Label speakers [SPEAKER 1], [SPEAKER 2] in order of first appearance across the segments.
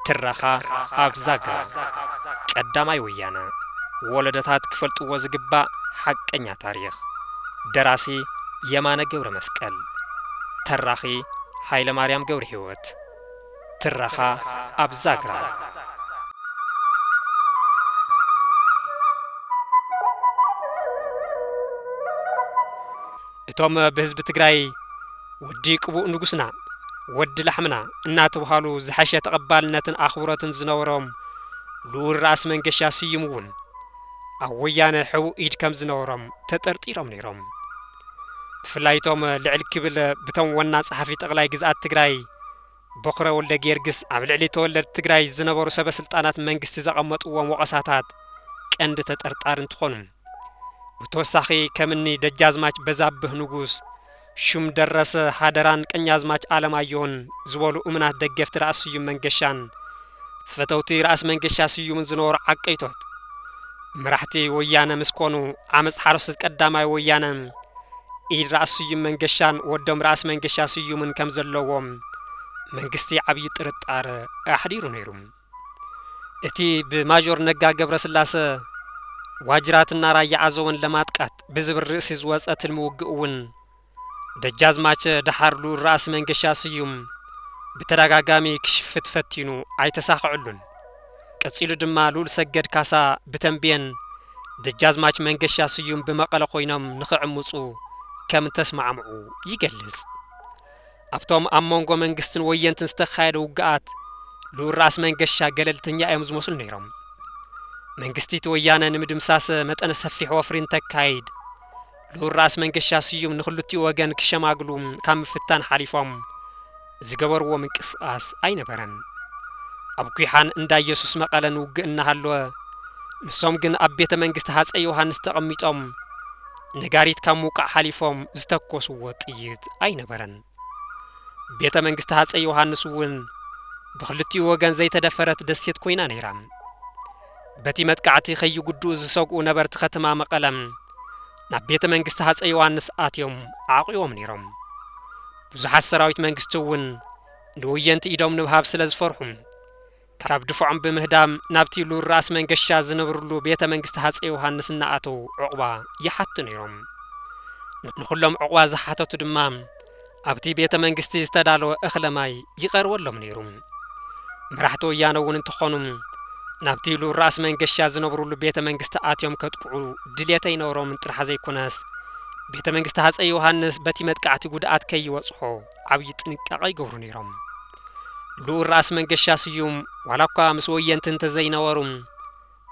[SPEAKER 1] ትረኻ ኣብ ዛግራ ቀዳማይ ወያነ ወለደታት ክፈልጥዎ ዝግባእ ሓቀኛ ታሪኽ ደራሲ የማነ ገብረ መስቀል ተራኺ ሃይለ ማርያም ገብረ ህይወት ትረኻ ኣብ ዛግራ። እቶም ብህዝቢ ትግራይ ወዲ ቅቡእ ንጉስና፣ ወዲ ላሕምና እናተብሃሉ ዝሐሸ ተቐባልነትን ኣኽብሮትን ዝነበሮም ልኡል ራእሲ መንገሻ ስዩም እውን ኣብ ወያነ ሕቡእ ኢድ ከም ዝነበሮም ተጠርጢሮም ነይሮም። ብፍላይ እቶም ልዕል ክብል ብቶም ወና ጸሓፊ ጠቕላይ ግዝኣት ትግራይ በኹረ ወልደጊዮርግስ ኣብ ልዕሊ ተወለድቲ ትግራይ ዝነበሩ ሰበ ስልጣናት መንግስቲ ዘቐመጥዎም ወቐሳታት ቀንዲ ተጠርጣሪ እንትኾኑ ብተወሳኺ ከምኒ ደጃዝማች በዛብህ ንጉስ ሹም ደረሰ ሃደራን ቀኛዝማች ኣለማዮን ዝበሉ እሙናት ደገፍቲ ራእሲ ስዩም መንገሻን ፈተውቲ ራእሲ መንገሻ ስዩምን ዝነበሩ ዓቀይቶት መራሕቲ ወያነ ምስ ኮኑ ዓመፅ ሓረስቶት ቀዳማይ ወያነ ኢድ ራእሲ ስዩም መንገሻን ወዶም ራእሲ መንገሻ ስዩምን ከም ዘለዎም መንግስቲ ዓብዪ ጥርጣረ ኣሕዲሩ ነይሩ። እቲ ብማጆር ነጋ ገብረ ስላሰ ዋጅራትና ራያ ኣዘወን ለማጥቃት ብዝብል ርእሲ ዝወፀ ትልሚ ውግእ እውን ደጃዝማች ደሓር ልኡል ራእሲ መንገሻ ስዩም ብተዳጋጋሚ ክሽፍት ፈቲኑ ኣይተሳኸዐሉን። ቀጺሉ ድማ ልኡል ሰገድ ካሳ ብተምቤን ደጃዝማች መንገሻ ስዩም ብመቐለ ኮይኖም ንኽዕምጹ ከም እተስማዕምዑ ይገልጽ። ኣብቶም ኣብ መንጎ መንግስትን ወየንትን ዝተኻየደ ውግኣት ልኡል ራእሲ መንገሻ ገለልተኛ እዮም ዝመስሉ ነይሮም። መንግስቲ እቲ ወያነ ንምድምሳስ መጠነ ሰፊሕ ወፍሪ እንተካይድ ልኡል ራእሲ መንገሻ ስዩም ንክልቲኡ ወገን ክሸማግሉ ካብ ምፍታን ሓሊፎም ዝገበርዎ ምንቅስቓስ ኣይነበረን። ኣብ ጒሓን እንዳ ኢየሱስ መቐለን ውግእ እናሃለወ ንሶም ግን ኣብ ቤተ መንግስቲ ሃፀይ ዮሃንስ ተቐሚጦም ነጋሪት ካብ ምውቃዕ ሓሊፎም ዝተኮስዎ ጥይት ኣይነበረን። ቤተ መንግስቲ ሃፀይ ዮሃንስ እውን ብክልቲኡ ወገን ዘይተደፈረት ደሴት ኮይና ነይራ። በቲ መጥቃዕቲ ከይጉድኡ ዝሰግኡ ነበርቲ ከትማ መቐለም ናብ ቤተ መንግስቲ ሃጸይ ዮሃንስ ኣትዮም ኣዕቝቦም ነይሮም። ብዙሓት ሰራዊት መንግስቲ እውን ንወየንቲ ኢዶም ንምሃብ ስለ ዝፈርሑ፣ ካብ ድፋዖም ብምህዳም ናብቲ ሉል ራእሲ መንገሻ ዝነብርሉ ቤተ መንግስቲ ሃጸይ ዮሃንስ እናኣተዉ ዕቝባ ይሓቱ ነይሮም። ንዅሎም ዕቝባ ዝሓተቱ ድማ፣ ኣብቲ ቤተ መንግስቲ ዝተዳለወ እኽለ ማይ ይቐርበሎም ነይሩ። መራሕቲ ወያነ እውን እንተኾኑ ናብቲ ሉል ራእሲ መንገሻ ዝነብሩሉ ቤተ መንግስቲ ኣትዮም ከጥቅዑ ድሌት ኣይነበሮምን ጥራሕ ዘይኮነስ ቤተ መንግስቲ ሃፀይ ዮሃንስ በቲ መጥቃዕቲ ጉድኣት ከይበፅሖ ዓብዪ ጥንቃቐ ይገብሩ ነይሮም። ልኡል ራእሲ መንገሻ ስዩም ዋላ እኳ ምስ ወየንቲ እንተዘይነበሩ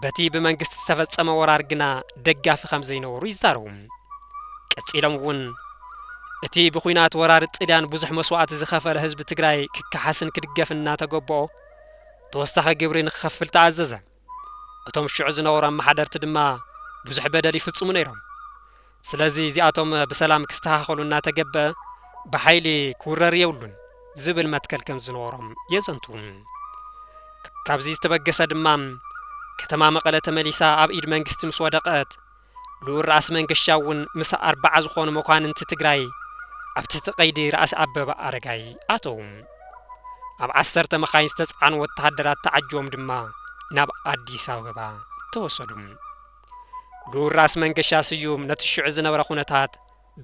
[SPEAKER 1] በቲ ብመንግስቲ ዝተፈጸመ ወራር ግና ደጋፊ ከም ዘይነበሩ ይዛረቡ። ቀጺሎም እውን እቲ ብኹናት ወራር ጥልያን ብዙሕ መስዋእቲ ዝኸፈለ ህዝቢ ትግራይ ክከሓስን ክድገፍን እናተገበኦ ተወሳኺ ግብሪ ንክኸፍል ተኣዘዘ። እቶም ሽዑ ዝነበሩ ኣመሓደርቲ ድማ ብዙሕ በደል ይፍጽሙ ነይሮም። ስለዚ እዚኣቶም ብሰላም ክስተኻኸሉ እናተገበእ ብሓይሊ ክውረር የብሉን ዝብል መትከል ከምዝነበሮም የዘንትዉ። ካብዚ ዝተበገሰ ድማ ከተማ መቐለ ተመሊሳ ኣብ ኢድ መንግስቲ ምስ ወደቐት ልኡል ራእሲ መንገሻ እውን ምስ ኣርባዓ ዝኾኑ መኳንንቲ ትግራይ ኣብ ትሕቲ ቀይዲ ራእሲ ኣበበ ኣረጋይ ኣተዉ። ኣብ ዓሰርተ መኻይን ዝተፅዓኑ ወተሃደራት ተዓጂቦም ድማ ናብ ኣዲስ ኣበባ ተወሰዱ። ክቡር ራስ መንገሻ ስዩም ነቲ ሽዑ ዝነበረ ኩነታት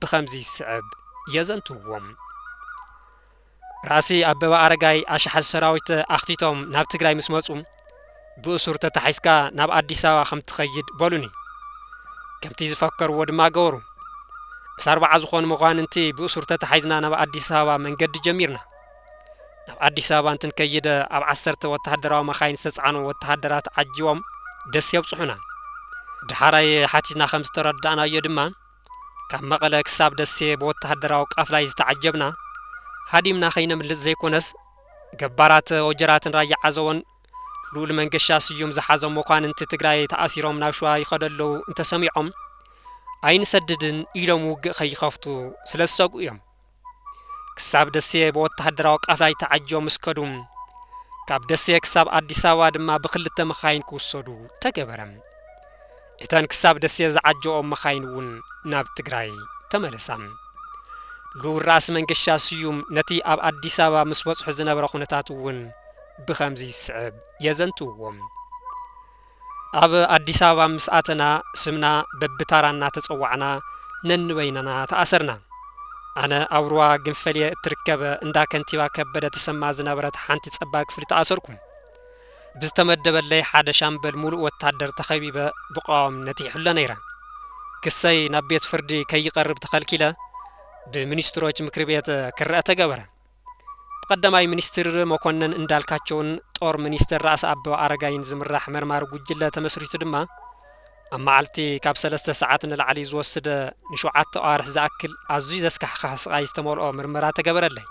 [SPEAKER 1] ብኸምዚ ዝስዕብ የዘንትውዎ። ራሲ ኣበበ ኣረጋይ ኣሽሓት ሰራዊት ኣኽቲቶም ናብ ትግራይ ምስ መፁ ብእሱር ተታሒዝካ ናብ ኣዲስ ኣበባ ከም ትኸይድ በሉኒ ከምቲ ዝፈከርዎ ድማ ገበሩ ምስ ኣርባዓ ዝኾኑ መኳንንቲ ብእሱር ተታሒዝና ናብ ኣዲስ ኣበባ መንገዲ ጀሚርና ናብ ኣዲስ ኣበባ እንትንከይድ ኣብ ዓሰርተ ወተሃደራዊ መኻይን ዝተጻዕኑ ወተሃደራት ዓጂቦም ደሴ የብጽሑና። ድሓራይ ሓቲትና ከም ዝተረዳእናዮ ድማ ካብ መቐለ ክሳብ ደሴ ብወተሃደራዊ ቃፍላይ ዝተዓጀብና ሃዲምና ከይነምልጥ ዘይኮነስ ገባራት ወጀራትን ራያ ዓዘቦን ልኡል መንገሻ ስዩም ዝሓዞም መኳንንቲ ትግራይ ተኣሲሮም ናብ ሸዋ ይኸዱ ኣለዉ እንተሰሚዖም ኣይንሰድድን ኢሎም ውግእ ከይኸፍቱ ስለዝሰግኡ እዮም። ክሳብ ደሴ ብወተሃደራዊ ቃፍላይ ተዓጂቦም ምስ ከዱ፣ ካብ ደሴ ክሳብ ኣዲስ ኣበባ ድማ ብኽልተ መኻይን ክውሰዱ ተገበረ። እተን ክሳብ ደሴ ዝዓጀብኦም መኻይን እውን ናብ ትግራይ ተመለሳ። ልኡል ራእሲ መንገሻ ስዩም ነቲ ኣብ ኣዲስ ኣበባ ምስ በጽሑ ዝነበረ ኩነታት እውን ብኸምዚ ዝስዕብ የዘንትውዎ። ኣብ ኣዲስ ኣበባ ምስ ኣተና ስምና በብታራ እናተፀዋዕና ነንበይንና ተኣሰርና። ኣነ ኣብ ሩባ ግንፈልየ እትርከብ እንዳ ከንቲባ ከበደ ተሰማ ዝነበረት ሓንቲ ፀባብ ክፍሊ ተኣሰርኩ። ብዝተመደበለይ ሓደ ሻምበል ሙሉእ ወታደር ተኸቢበ ብቐዋምነት ይሕሎ ነይረ። ክሰይ ናብ ቤት ፍርዲ ከይቐርብ ተኸልኪለ ብሚኒስትሮች ምክሪ ቤት ክረኣ ተገበረ። ብቀዳማይ ሚኒስትር መኮነን እንዳልካቸውን ጦር ሚኒስትር ራእሲ ኣበባ ኣረጋይን ዝምራሕ መርማሪ ጉጅለ ተመስሪቱ ድማ ኣብ መዓልቲ ካብ ሰለስተ ሰዓት ንላዕሊ ዝወስደ ንሸውዓተ ኣዋርሕ ዝኣክል ኣዝዩ ዘስካሕክሕ ስቓይ ዝተመልኦ ምርመራ ተገበረለይ።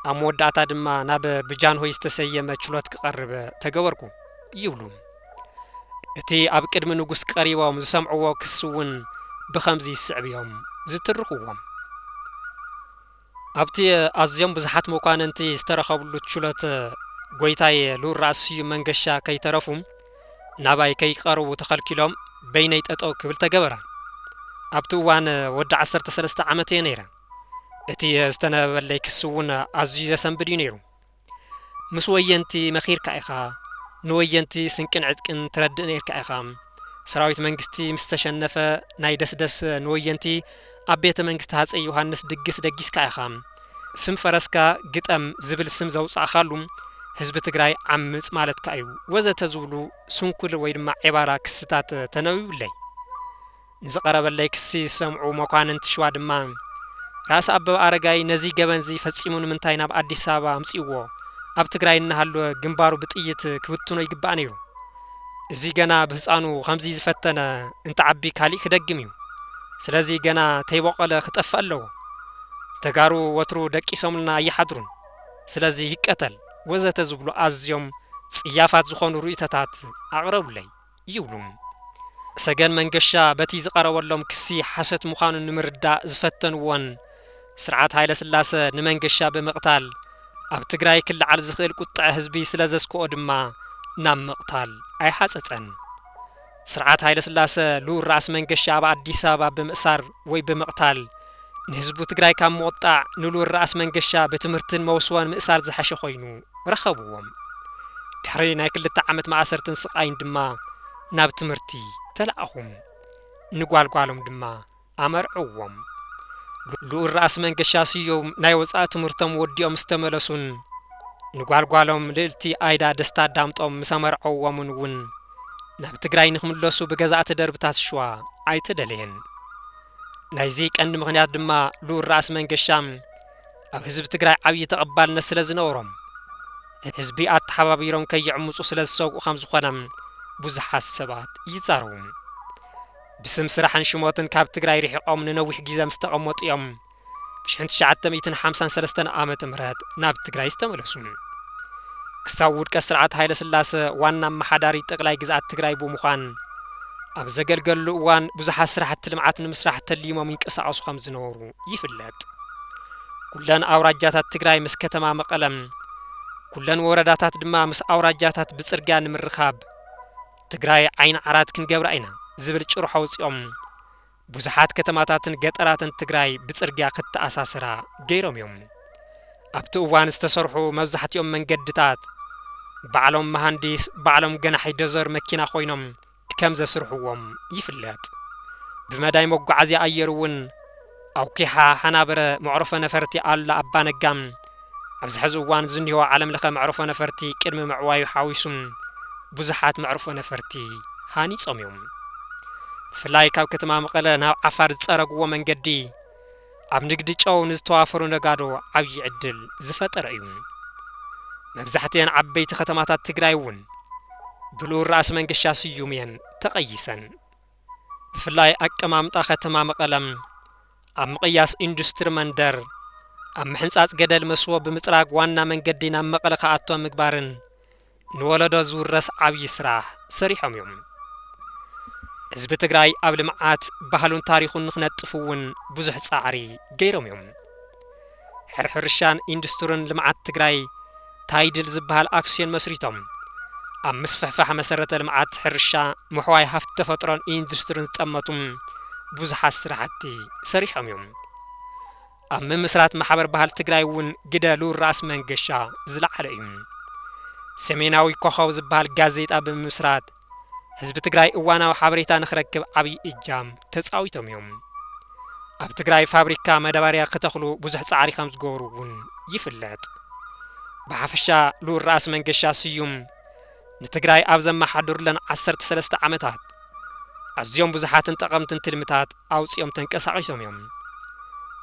[SPEAKER 1] ኣብ መወዳእታ ድማ ናብ ብጃንሆይ ዝተሰየመ ችሎት ክቐርብ ተገበርኩ ይብሉ። እቲ ኣብ ቅድሚ ንጉስ ቀሪቦም ዝሰምዕዎ ክሲ እውን ብኸምዚ ዝስዕብ እዮም ዝትርኽዎም። ኣብቲ ኣዝዮም ብዙሓት መኳንንቲ ዝተረኸብሉ ችሎት ጎይታይ ልኡል ራእሲ ስዩም መንገሻ ከይተረፉ ናባይ ከይቀርቡ ተኸልኪሎም በይነይ ጠጠው ክብል ተገበረ። ኣብቲ እዋን ወዲ ዓሰርተ ሰለስተ ዓመት እየ ነይረ። እቲ ዝተነበበለይ ክሲ እውን ኣዝዩ ዘሰንብድ እዩ ነይሩ። ምስ ወየንቲ መኺርካ ኢኻ ንወየንቲ ስንቅን ዕጥቅን ትረድእ ነይርካ ኢኻ ሰራዊት መንግስቲ ምስ ተሸነፈ ናይ ደስደስ ንወየንቲ ኣብ ቤተ መንግስቲ ሃጸይ ዮሃንስ ድግስ ደጊስካ ኢኻ ስም ፈረስካ ግጠም ዝብል ስም ዘውጻእካሉ ህዝቢ ትግራይ ዓምጽ ማለትካ እዩ ወዘተ ዝብሉ ስንኩል ወይ ድማ ዔባራ ክስታት ተነቢቡለይ ንዝቐረበለይ ክሲ ዝሰምዑ መኳንንት ሽዋ ድማ፣ ራእሲ ኣበበ ኣረጋይ ነዚ ገበን'ዚ ፈጺሙ ንምንታይ ናብ ኣዲስ ኣበባ ኣምጺኡዎ? ኣብ ትግራይ እናሃለወ ግንባሩ ብጥይት ክብትኖ ይግባእ ነይሩ። እዚ ገና ብህጻኑ ከምዚ ዝፈተነ እንትዓቢ ካሊእ ክደግም እዩ። ስለዚ ገና ተይቦቖለ ክጠፍእ ኣለዎ። ተጋሩ ወትሩ ደቂሶምልና ኣይሓድሩን። ስለዚ ይቀተል። ወዘተ ዝብሉ ኣዝዮም ጽያፋት ዝኾኑ ርእይቶታት ኣቕረቡለይ። ይብሉ። ሰገን መንገሻ በቲ ዝቐረበሎም ክሲ ሓሶት ምዃኑ ንምርዳእ ዝፈተንዎን ስርዓት ሃይለስላሰ ንመንገሻ ብምቕታል ኣብ ትግራይ ክለዓል ዝኽእል ቁጠዐ ህዝቢ ስለዘስክኦ ድማ ናብ ምቕታል ኣይሓጸጸን። ስርዓት ሃይለስላሰ ልኡል ራእሲ መንገሻ ኣብ ኣዲስ ኣበባ ብምእሳር ወይ ብምቕታል ንህዝቡ ትግራይ ካብ ምቑጣዕ ንልኡል ራእሲ መንገሻ ብትምህርትን መውስቦን ምእሳር ዝሐሸ ኮይኑ ረኸብዎም። ድሕሪ ናይ ክልተ ዓመት ማእሰርትን ስቓይን ድማ ናብ ትምህርቲ ተላእኹ። ንጓል ጓሎም ድማ ኣመርዕዎም። ልኡል ራእሲ መንገሻ ስዩም ናይ ወፃኢ ትምህርቶም ወዲኦም ምስ ተመለሱን ንጓል ጓሎም ልእልቲ ኣይዳ ደስታ ዳምጦም ምስ ኣመርዐዎምን እውን ናብ ትግራይ ንክምለሱ ብገዛእቲ ደርብታት ሽዋ ኣይተደለየን። ናይዚ ቀንዲ ምኽንያት ድማ ልኡል ራእሲ መንገሻ ኣብ ህዝቢ ትግራይ ዓብዪ ተቐባልነት ስለ ዝነበሮም ህዝቢ ኣተሓባቢሮም ከይዕምፁ ስለ ዝሰግኡ ከም ዝኾነ ብዙሓት ሰባት ይዛረቡ። ብስም ስራሕን ሽሞትን ካብ ትግራይ ርሒቖም ንነዊሕ ግዜ ምስ ተቐመጡ እዮም ብሽሕን ትሽዓተ ሚእትን ሓምሳን ሰለስተን ዓመተ ምህረት ናብ ትግራይ ዝተመለሱ ክሳብ ውድቀት ስርዓት ሃይለ ስላሰ ዋና ኣመሓዳሪ ጠቅላይ ግዝኣት ትግራይ ብምዃን ኣብ ዘገልገልሉ እዋን ብዙሓት ስራሕቲ ልምዓት ንምስራሕ ተሊሞም ይንቀሳቐሱ ከም ዝነበሩ ይፍለጥ። ኩለን ኣውራጃታት ትግራይ ምስ ከተማ መቐለም ኩለን ወረዳታት ድማ ምስ ኣውራጃታት ብፅርግያ ንምርኻብ ትግራይ ዓይኒ ዓራት ክንገብራ ኢና ዝብል ጭርሖ ኣውፂኦም ብዙሓት ከተማታትን ገጠራትን ትግራይ ብፅርግያ ክተኣሳሰራ ገይሮም እዮም። ኣብቲ እዋን ዝተሰርሑ መብዛሕቲኦም መንገድታት ባዕሎም መሃንዲስ ባዕሎም ገናሒ ዶዘር መኪና ኮይኖም ከምዘስርሕዎም ይፍለጥ። ብመዳይ መጓዓዝያ ኣየር እውን ኣውኪሓ ሃናብረ መዕርፎ ነፈርቲ ኣሉላ ኣባነጋ፣ ኣብዚ ሐዚ እዋን ዝኒሆ ዓለም ለኸ መዕርፎ ነፈርቲ ቅድሚ ምዕዋዩ ሓዊሱ ብዙሓት መዕርፎ ነፈርቲ ሃኒፆም እዮም። ብፍላይ ካብ ከተማ መቐለ ናብ ዓፋር ዝፀረግዎ መንገዲ ኣብ ንግዲ ጨው ንዝተዋፈሩ ነጋዶ ዓብዪ ዕድል ዝፈጠረ እዩ። መብዛሕትኤን ዓበይቲ ከተማታት ትግራይ እውን ብልኡል ራእሲ መንገሻ ስዩም እየን ተቐይሰን። ብፍላይ ኣቀማምጣ ከተማ መቐለ ኣብ ምቕያስ ኢንዱስትሪ መንደር፣ ኣብ ምሕንፃፅ ገደል መስቦ ብምፅራግ ዋና መንገዲ ናብ መቐለ ክኣቶ ምግባርን ንወለዶ ዝውረስ ዓብዪ ስራሕ ሰሪሖም እዮም። ህዝቢ ትግራይ ኣብ ልምዓት ባህሉን ታሪኹን ንክነጥፍ እውን ብዙሕ ፃዕሪ ገይሮም እዮም። ሕርሻን ኢንዱስትርን ልምዓት ትግራይ ታይድል ዝበሃል ኣክስዮን መስሪቶም ኣብ ምስፍሕፋሕ መሰረተ ልምዓት ሕርሻ፣ ምሕዋይ ሃፍቲ ተፈጥሮን ኢንዱስትርን ዝጠመቱ ብዙሓት ስራሕቲ ሰሪሖም እዮም። ኣብ ምምስራት ማሕበር ባህል ትግራይ እውን ግደ ልኡል ራእሲ መንገሻ ዝለዓለ እዩ። ሰሜናዊ ኮኸብ ዝበሃል ጋዜጣ ብምምስራት ህዝቢ ትግራይ እዋናዊ ሓበሬታ ንክረክብ ዓብይ እጃም ተፃዊቶም እዮም። ኣብ ትግራይ ፋብሪካ መዳባርያ ክተኽሉ ብዙሕ ፃዕሪ ከምዝገበሩ እውን ይፍለጥ። ብሓፈሻ ልኡል ራእሲ መንገሻ ስዩም ንትግራይ ኣብ ዘመሓድሩለን ዓሰርተ ሰለስተ ዓመታት ኣዝዮም ብዙሓትን ጠቐምትን ትልምታት ኣውጺኦም ተንቀሳቒሶም እዮም።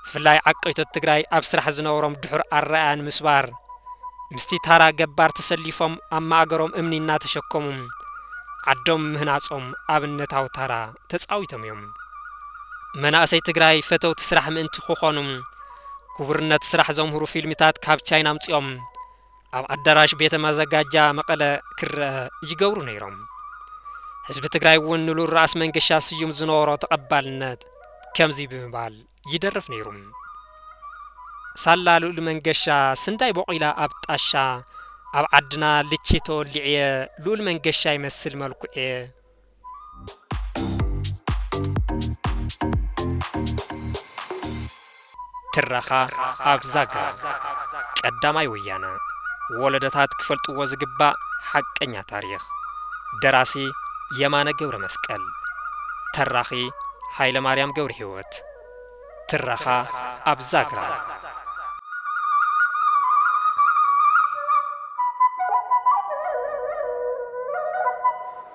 [SPEAKER 1] ብፍላይ ዓቀይቶት ትግራይ ኣብ ስራሕ ዝነበሮም ድሑር ኣረኣእያ ንምስባር ምስቲ ታራ ገባር ተሰሊፎም ኣብ ማእገሮም እምኒ እናተሸከሙ ዓዶም ምህናጾም ኣብነታዊ ታራ ተጻዊቶም እዮም። መናእሰይ ትግራይ ፈተውቲ ስራሕ ምእንቲ ክኾኑ ክቡርነት ስራሕ ዘምህሩ ፊልምታት ካብ ቻይና ኣምጺኦም ኣብ ኣዳራሽ ቤተ ማዘጋጃ መቐለ ክረኣ ይገብሩ ነይሮም። ህዝቢ ትግራይ እውን ንሉል ራእሲ መንገሻ ስዩም ዝነበሮ ተቐባልነት ከምዚ ብምባል ይደርፍ ነይሩ። ሳላ ልኡል መንገሻ ስንዳይ ቦቒላ ኣብ ጣሻ ኣብ ዓድና ልቺ ተወሊዕየ ልኡል መንገሻ ይመስል መልኩዕየ፣ ትረኻ ኣብ ዛግራ ቀዳማይ ወያነ ወለደታት ክፈልጥዎ ዝግባእ ሓቀኛ ታሪኽ ደራሲ የማነ ገብረ መስቀል ተራኺ ሃይለ ማርያም ገብረ ህይወት ትረኻ ኣብ ዛግራ